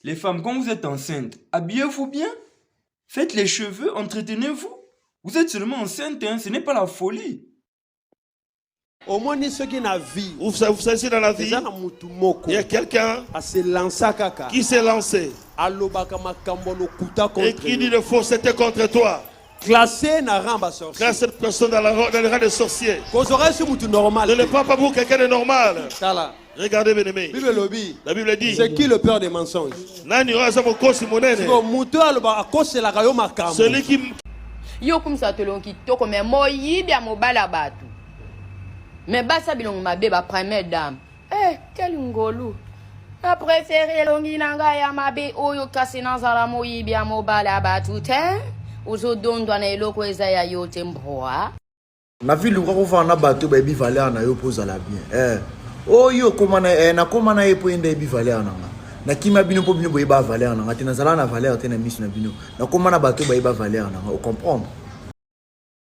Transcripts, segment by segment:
Les femmes, quand vous êtes enceinte, habillez-vous bien, faites les cheveux, entretenez-vous. Vous êtes seulement enceinte, hein, ce n'est pas la folie. omoni soki na vie Vous sa- vous saisissez dans la vie, eza na motu moko il y a quelqu'un aselansa kaka qui s'est lancé alobaka makambo ya lokuta et contre qui dit yo. de fausseté contre toi. Classé na rang ba sorciers. Classé cette personne dans, la, dans le rang des sorciers. Kozora sur mutu normal. Ne le prends pas pour quelqu'un de normal. Tala. Regardez bien aimé. Bible lobi. La Bible dit. C'est qui le père des mensonges? Nani oyo aza mokosi monene? Siko mutu aloba akoselaka yo makambo. Celui qui Yo kumisa tolongo kitoko mais moyibi ya mobala bato. Mais basa bilongo mabe ba première dame. Eh, quel ngolu na prefere elongi na ngai ya mabe oyo kasi nazala moyibi ya mobali ya bato te ozodondwa na eloko eza ya yo te mbwa na vie luka kofana na bato bayebi valeur na yo mpo ozala bien eh. oyo okoma na eh, nakoma na ye mpo ye nde ayebi valeur na nga nakima bino mpo bino boyeba valeur na nga te nazala na valeur te na miso na bino nakoma na bato bayeba valeur na nga ocomprendre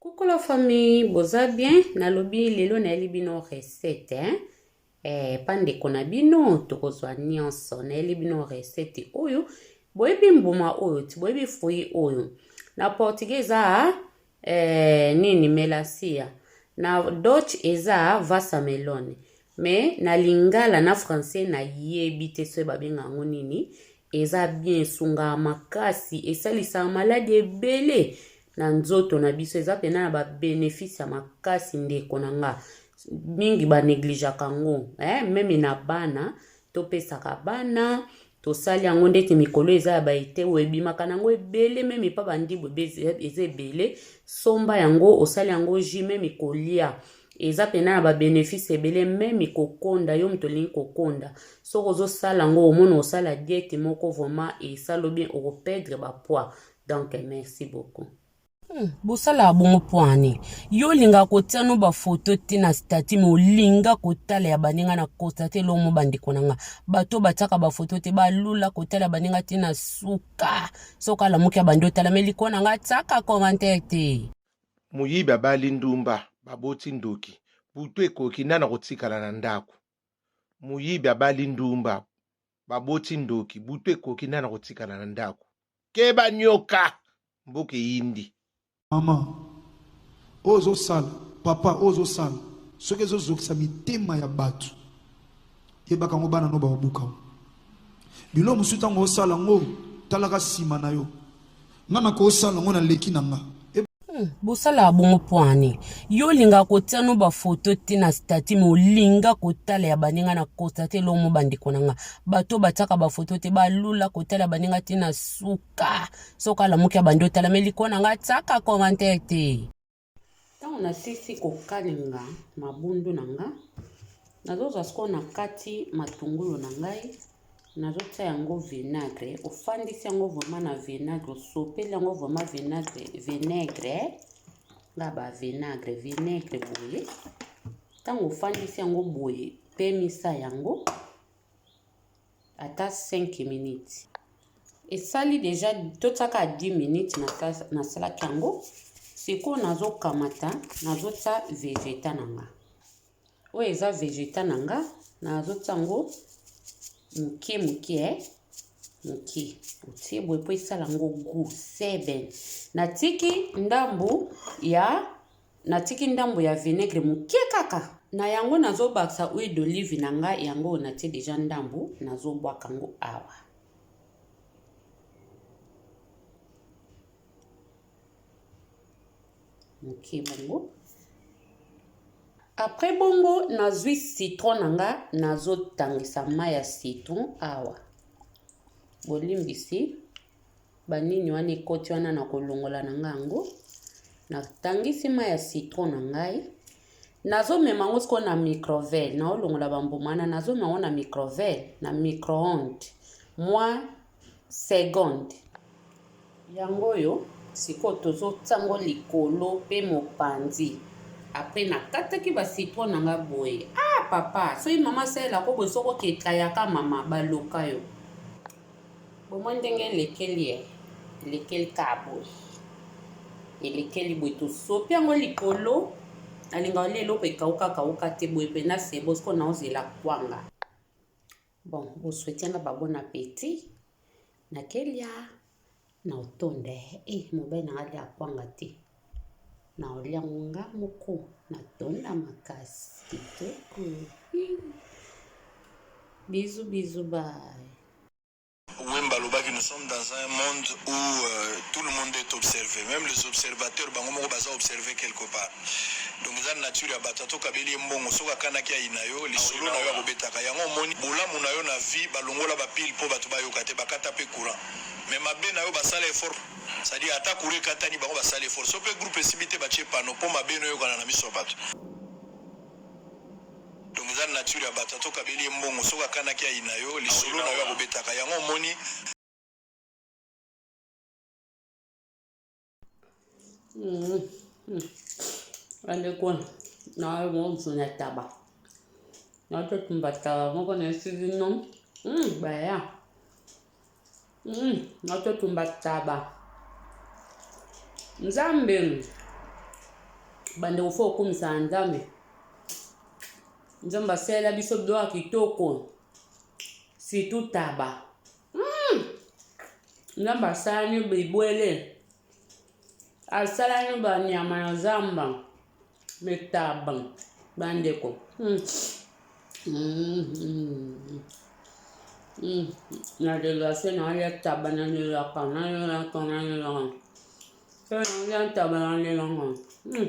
Coucou la famille, boza bien? Nalobi lelo nayeli bino recette hein? Eh, pa ndeko na bino tokozwa nyonso. Nayeli bino recette oyo. Boyebi mbuma oyo ti, boyebi fruit oyo. Na portugais eza eh, nini melancia. Na Dutch eza vasamelone. mais na lingala na français nayebi te soki babenga yango nini eza bien esungaka makasi esalisaka maladi ebele na nzoto na biso eza mpena na babenefice ya makasi ndeko na nga mingi banegligeaka yango eh, meme na bana topesaka bana tosali yango ndeti mikolo eza ya baeteo ebimaka nango ebele meme epa bandibu eza ebele somba yango osali yango ji meme kolia eza mpena na babenefice ebele meme kokonda yo moto olingi kokonda soki ozosala yango omona osala diete moko vraimen esalo bien okopedre bapoids donc merci beaucoup Hmm, bosalaka bongo pwani yo olinga kotia no bafoto te na stati me olinga kotala ya baninga na kosa te lomo bandeko na nga bato batiaka bafoto te balula kotala baninga te na suka soki alamuki ya bandi otala me likolo na nga tiaka commentaire te moyibi abali ndumba baboti ndoki butu ekoki nani akotikala na ndako moyibi abali ndumba Baboti ndoki, butu ekoki nani akotikala na ndako. Keba nyoka, mboka eyindi. Maman oyo ozo sala papa oyo ozo sala soki ezo zokisa mitema ya batu yebaka yango bana no bakobuka yo bilo mosusu ntango osala yango talaka nsima na yo nga nakosala ngo na leki na nga Hmm, bosalaka bongo mpo ani yo olingaka kotia no bafoto te na stati me olinga kotala ya baninga na kosa te elomo bandeko na nga bato oyo batiaka bafoto te balula kotala ya baninga te na suka soki alamuki ya bandi otalameli kona nga tiaka commentaire te Ntango nasilisi kokalinga mabundu na nga, nazozwa sikoyo na kati matungulu na ngai, nazotia yango vinagre. Ofandisi yango vrema na vinagre, osopeli yango vrema vinagre, vinagre nga ba vinagre, vinagre boye. Ntango ofandisi yango boye, pemisa yango. ata 5 minutes esali deja totiaka 10 minutes nasalaki yango sikoyo nazokamata nazotya vegeta na nga oyo eza vegeta na nga nazotya yango moke moke eh. moke otie boye mpo esala yango gu seben natiki ndambu ya Natiki ndambo ya vinaigre moke kaka. Na yango nazobakisa huile d'olive na nga yango oyo natie deja ndambo nazobwaka yango awa. Moke bongo. Après bongo nazwi citron na nga nazotangisa mai ya citron awa. Bolimbisi. Ba nini wana ekoti wana na kolongola na nga yango na tangisi ma ya citron na ngai nazomema yango sikoyo na microvele naolongola bambuma wana nazomema yango na microvele na microonde mwa seconde yango oyo sikoyo tozotya yango likolo mpe mopanzi apres nakataki bacitro na nga boye ah papa soki mama asalela ko boye soko okekayaka mama baloka yo Bomoni ndenge elekeli eh? Elekeli kaka boye. Elekeli boye tosopi yango likolo. Nalinga olia eloko ekauka kauka te boye pena sebo siko naozela kwanga. Bon, boswetianga ba bon appetit. Nakelia. Na otonda eh mobali nanga alia kwanga te na olia ngo nga moko na tonda makasi kitoko bizu bizu bye Wemba alobaki nous sommes dans un monde où euh, tout le monde est observé même les observateurs bango moko baza observé quelque part donc eza nature ya bato ato kabeli ye mbongo soki akanaki ayi na yo lisolo na yo akobetaka yango omoni bolamu na yo na vie balongola bapile mpo bato bayoka te bakata mpe courant Mais mabe nayo basala effort c'est à dire ata courant ekatani bango basali effort soki pe groupe esimbi te batie panneau po mabe no eyokana na miso ya batu donc eza nature ya batu ata okabeli ye mbongo soki akanaki ayina yo lisolo nayo akobetaka yango omoni Mm. Mm. Bandeko na yo momusu na taba natotumba taba moko na esili no mm, baya mm, natotumba taba nzambe bandeko fo okumisa na nzambe nzambe asalela biso biloko kitoko situ taba Hum! Nzambe asalani bibwele, asalani banyama na zamba, mitaba, bandeko. Hum! Hum! Hum! Hum! Na delase na ya taba na lelaka, na lelaka, na lelaka. Pe na ya taba na lelaka. Hum!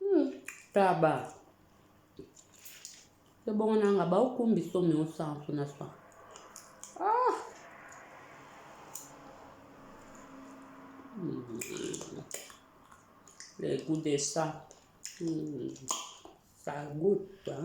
Hmm, taba. Te bongo nanga ba okumbi so mi osanso na sa. Ah. Hmm. Le goût de ça. Hmm. Ça goûte, hein?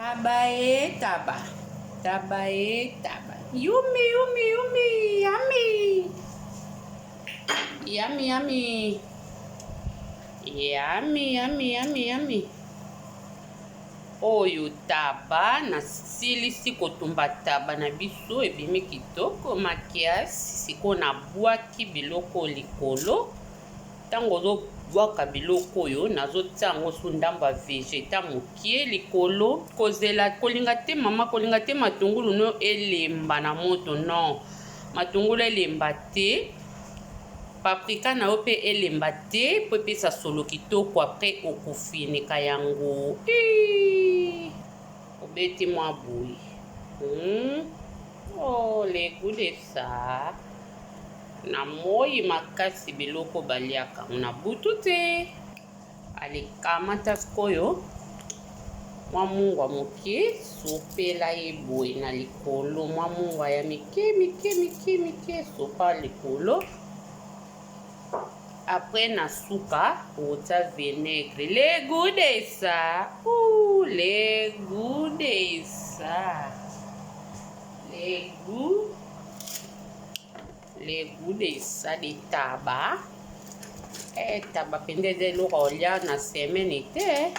Taba e taba, taba e taba. Yummy, yummy, yummy, yummy. Yummy, yummy. Yummy, yummy, yummy, yummy. Oyo taba nasilisi kotumba taba na biso ebimi kitoko makiasi sikoyo nabwaki biloko likolo Tango ozo bwaka biloko oyo nazo tia yango sous ndamba vegeta mokie likolo kozela kolinga te mama kolinga te matungulu no elemba na moto non matungulu elemba te paprika na yo mpe elemba te mpo epesa solo kitoko apres okofineka yango obeti mwa boye hmm. Oh le goût de ça. Na moi makasi biloko baliaka na butu te. Alikamata sikoyo mwa mungwa moke, sopela ye boye na likolo, mwa mungwa ya mike mike mike mike, sopa likolo Après na suka otia vinaigre. Le goût de ça. Ouh, le goût de ça. Le goût le goût de ça de taba. Eh, taba mpenza eza eloko olia na semaine te.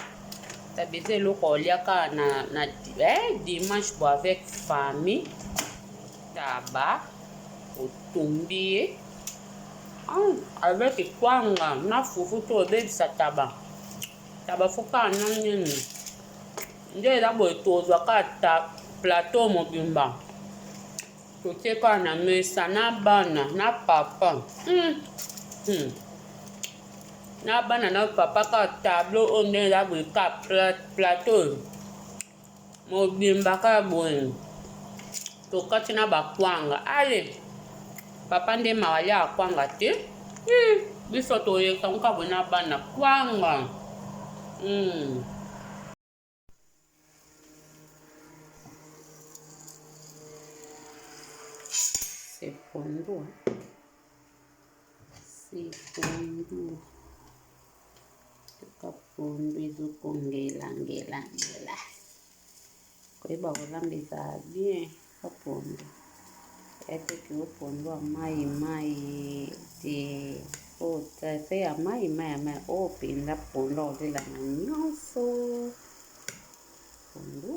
Taba eza eloko olia kaka na, na eh, dimanche bo avec famille. Taba otumbi ye. avec kwanga na fufu to obebisa taba taba fo kaka na nini nde eza boye tozwa kaka plateau mobimba totie kaka na mesa na bana na papa hmm. Hmm. na bana na papa kaka tableau oyo nde eza boye kaka plateau mobimba kaka boye tokati na bakwanga ale papa nde mawa aliaka kwanga te hmm, biso toyeka nka boye na bana kwanga hmm. sepondo C'est pondu. Toka pondu ezokongela ngela ngela. Koyeba kolamba ezala bien ka pondu. Ete kilo pondu ya mai mai te oyo oh, traite ya mai mai ya mai oyo oh, mpenza pondu akolela na nyonso pondu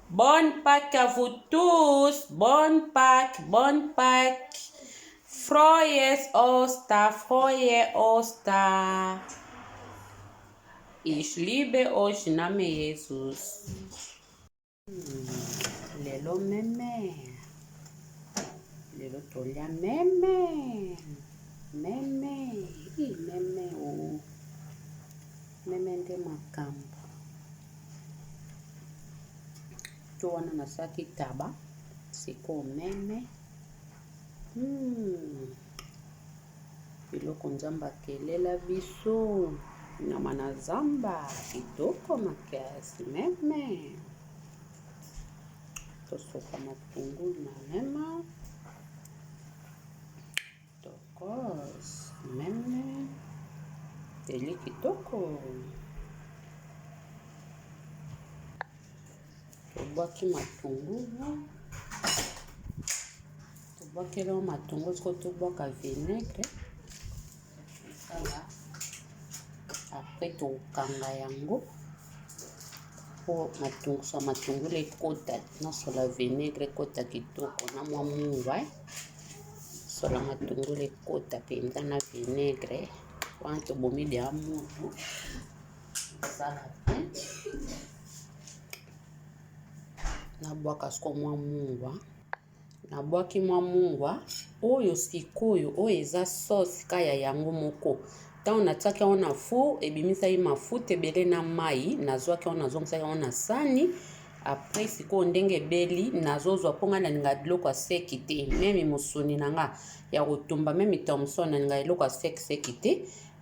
Bonne Pâques à vous tous. Bonne Pâques, bonne Pâques. Froyes Osta, Froye Osta. Ich liebe euch, Name Jesus. Lelo meme. Lelo tolia meme. Meme. I meme o. Oh. Meme nde makambo. to wana nasalaki taba sikoyo meme hmm. biloko nzambe akelela biso nyama na zamba kitoko makasi meme tosopa matungulu na mema Tokoos meme teli kitoko tobwaki matungulu tobwakeli yango matungulu sikoyo tobwaka vinaitre apres tokanga yango mpo matungulu ekota nyonso la vinaitre ekota kitoko na mwa mungwa Sala matungulu ekota mpenza na vinaigre wana tobomi lya mutu sala te nabwaka siko mwa mungwa nabwaki mwa mungwa oyo sikoyo oyo eza sauce ka ya yango moko ntango natiaki yango na four ebimisaki mafuta ebele na mai nazwaki yango nazongisaki yango na sani après sikoyo ndenge ebeli nazozwa mpo ngai nalinga biloko ya seki te meme mosuni na nga ya kotumba meme thomson nalinga eloko ya seki seki te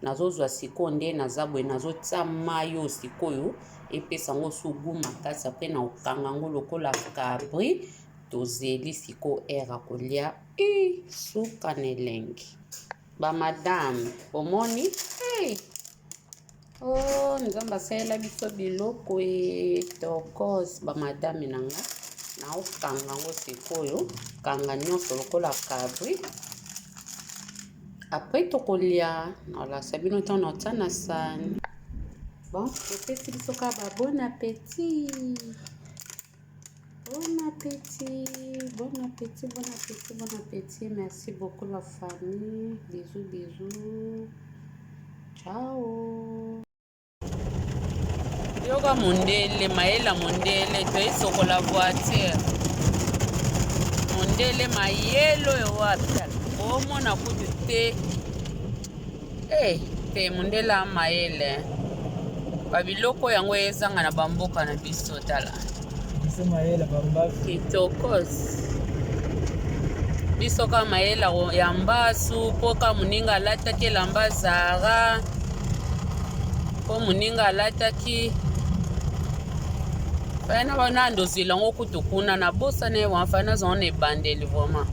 nazozwa sikoyo nde naza boye nazotya mayo sikoyo epesa yango sugu makasi apre na kokanga yango lokola cabri tozeli sikoyo aire ya kolia suka na elengi Ba madame, bomoni? Hey! Oh, Nzambe asalela biso biloko e tokos ba madame na nga. Naokanga yango sikoyo, kanga nyonso lokola kabri. Après tokolia, nalasa bino ntango naotya na sani. Bon, epesi biso kaka ba bon appétit. Bon appétit, bon appétit, bon appétit, bon appétit. Merci beaucoup la famille. Bisous, bisous. Ciao. Yoka mondele, maela mondele, toye sokola voiture. Mondele mayelo yo wapi? Omona kutu te. Eh, te mundela mayele babiloko yango ezanga na bamboka na biso tala kitokos biso ka mayela ya mbasu mpo ka moninga alataki elamba zara mpo moninga alataki fana wana ndozwila yango kutu kuna nabosana ye wana fana azango na ebandeli vraimen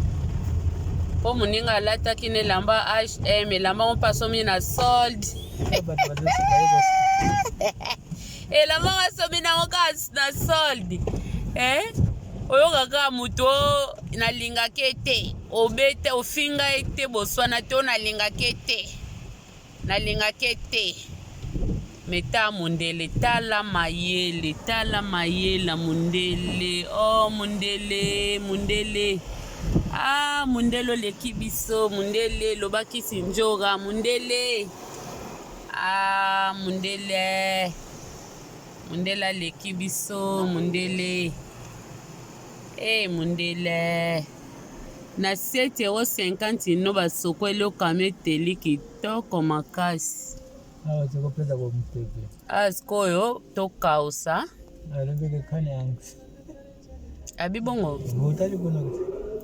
mpo moninga alataki na elamba Eh, mais la maman passe mis na solde. Et la maman passe mis na okas na solde. Eh? oyokaka moto nalingaka ye te obete ofinga ye te boswana te oyo nalingaka ye te nalingaka ye te Mais ta mundele tala mayele tala mayela mundele oh mundele mundele ah mundele oleki biso mundele loba kisi njora mundele ah mundele mundele aleki biso mundele eh hey, mundele na 7 euro 50 no basokweli okami eteli kitoko makasi awa sikoyo tokausa abi bongo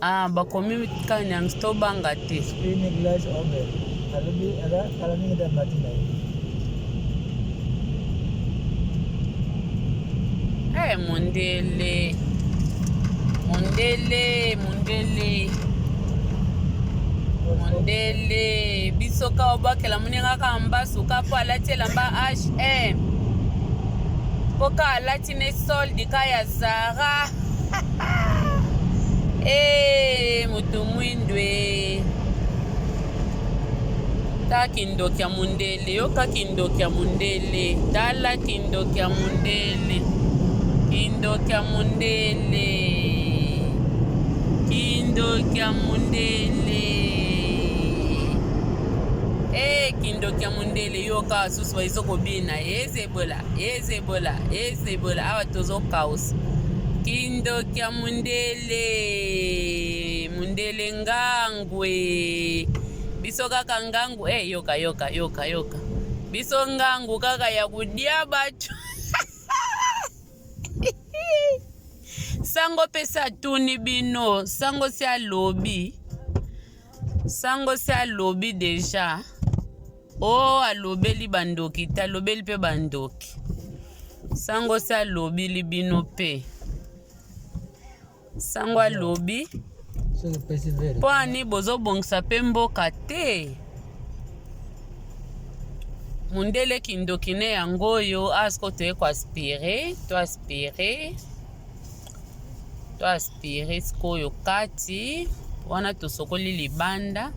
ah, bakomi kanyans tobanga te Hey, eh, mondele mondele mondele mondele biso ka obakela oningaka mbasuka mpo alati elamba hm mpo ka alati ne soldi ka ya zara ee eh, moto mwindu e ta kindoki ya mondele yoka kindoki ya mondele tala kindoki ya mondele kindoki ya mondele kindoki ya mondele Hey, eh, kindoki ya mondele yoka basusu baizo kobina ezebola ezebola ezebola awa tozo kaosa kindoki ya mondele mondele ngangwe biso kaka ngangu hey, eh, yoka yoka yoka yoka biso ngangu kaka ya kodia bato sango mpe satuni bino sango si alobi Sango si alobi deja o oh, alobeli bandoki te alobeli mpe bandoki sango si alobili bino mpe sango alobi mpo ani bozobongisa mpe mboka te mundele kindoki ne yango oyo asko toye koaspire toaspire to aspire sikoyo kati wana tosokoli libanda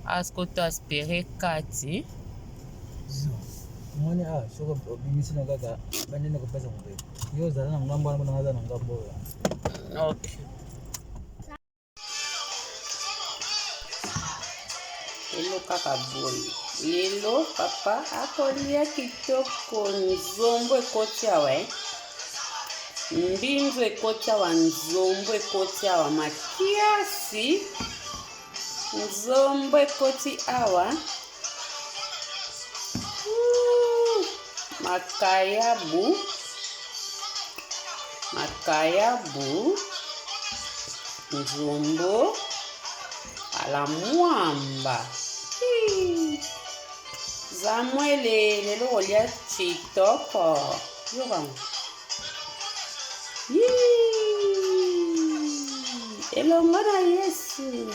asko to aspire kati omoni awa soki obimisi na kaka bandende kopesa mobe yo ozala na ngambo wana kuna aza na ngambo oyo ok lelo kaka boye lelo papa akolia kitoko nzombo ekoti awa eh? mbinzo ekoti awa nzombo ekoti awa makiasi nzombo ekoti awa makayabu makayabu nzombo ala mwamba zamwele lelo kolia kitoko yokango elongo na yesu